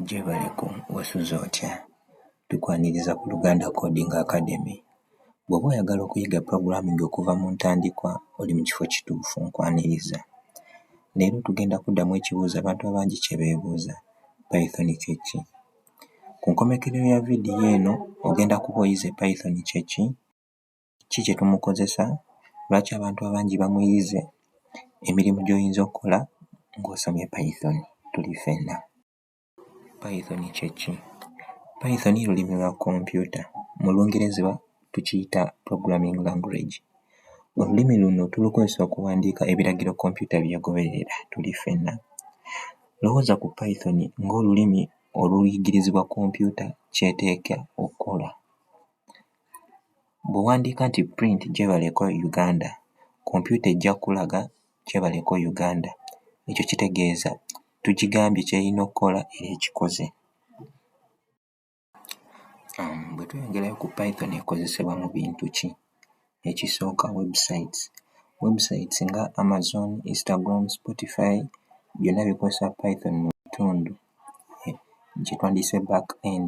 Jebaleko wasuze otya tukwaniriza ku Luganda Coding Academy bwoba oyagala okuyiga programming okuva mu ntandikwa oli mu kifo kituufu nkwaniriza leero tugenda kuddamu ekibuuzo abantu abangi kye beebuuza Python kye ki? Ku nkomekerero ya vidiyo eno ogenda kuba oyize Python kye ki? ki kye tumukozesa, lwaki abantu abangi bamuyize, emirimu gy'oyinza okukola ng'osomye Python tuli ffenna. Python kye ki? Python lulimi lwa kompyuta, mu Lungereza tukiyita programming language. Olulimi luno tulukozesa okuwandiika ebiragiro kompyuta bye goberera tuli ffenna. Lowooza ku Python ng'olulimi oluyigirizibwa kompyuta ky'eteekwa okukola. Bw'owandiika nti print gyebaleko Uganda, kompyuta ejja kukulaga gyebaleko Uganda. Ekyo kitegeeza tugigambye ky'erina okukola era ekikoze. Bwe tweyongerayo ku Python ekozesebwa mu bintu ki? Ekisooka websites. Websites nga Amazon, Instagram, Spotify byonna bikozesa Python mu bitundu kye twandiyise back end.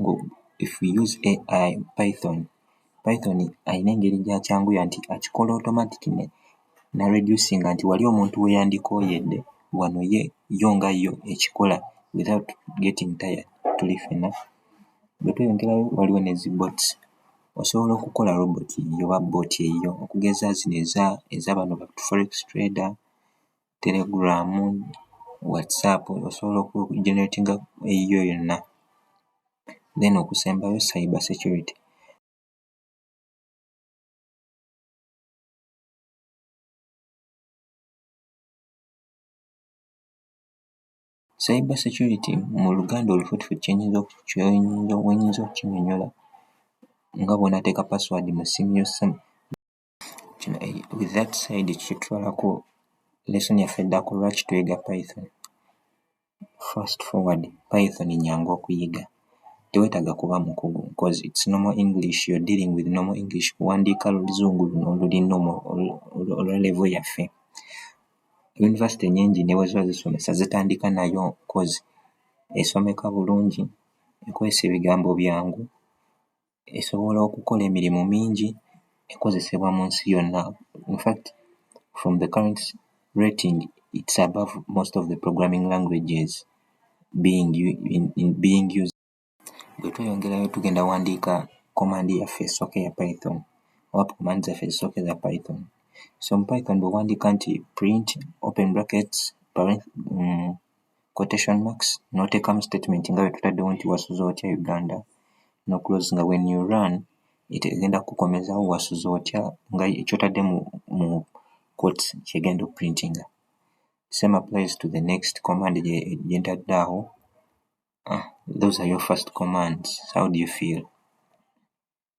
ngo if we use AI Python, Python alina engeri gyakyanguya nti akikola automatic ne na reducinga nti wali omuntu weyandikoyedde wano ye yo nga yo ekikola without getting tired tuli fena bwetweyongerayo waliwo ne zi bots osobola okukola robot oba bot eyiyo okugeza zino eza eza bano ba forex trader. telegram, whatsapp osobola oku generatinga eyiyo yonna then okusembayo cyber security. Cyber security mu luganda olufutuffu kyenyinza oku kyenyinza wenyinza okukinyonyola nga bwonateeka password mu ssimu yo. kino e- with that side kitutwalako lesson yaffe eddako lwaki tuyiga python fast forward python nyangu okuyiga tewetaaga kuba mukugu because it's normal english you're dealing with normal english kuwandiika luzungu luno oluli normal olu- olu- olwa level yaffe yunivasite nyingi ne bwe ziba zisomesa zitandika nayo cause esomeka bulungi ekozesa ebigambo byangu esobola okukola emirimu mingi ekozesebwa mu nsi yonna in fact from the current rating it's above most of the programming languages being in being used bwe tweyongerayo tugenda wandiika command yaffe esooka eya python oba command zaffe ezisooka eza python so mu python bwe wandiika nti print open brackets parent. quotation marks n'oteekamu statement nga bwe tutaddewo nti wasuze otya Uganda no close nga when you run it egenda kukukomezawo wasuze otya nga ky'otadde mu mu quotes ky'egenda okuprintinga. Same applies to the next command gye gye ntadde awo. Ah, those are your first commands. How do you feel?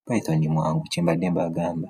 Python mwangu kye mbadde mbagamba.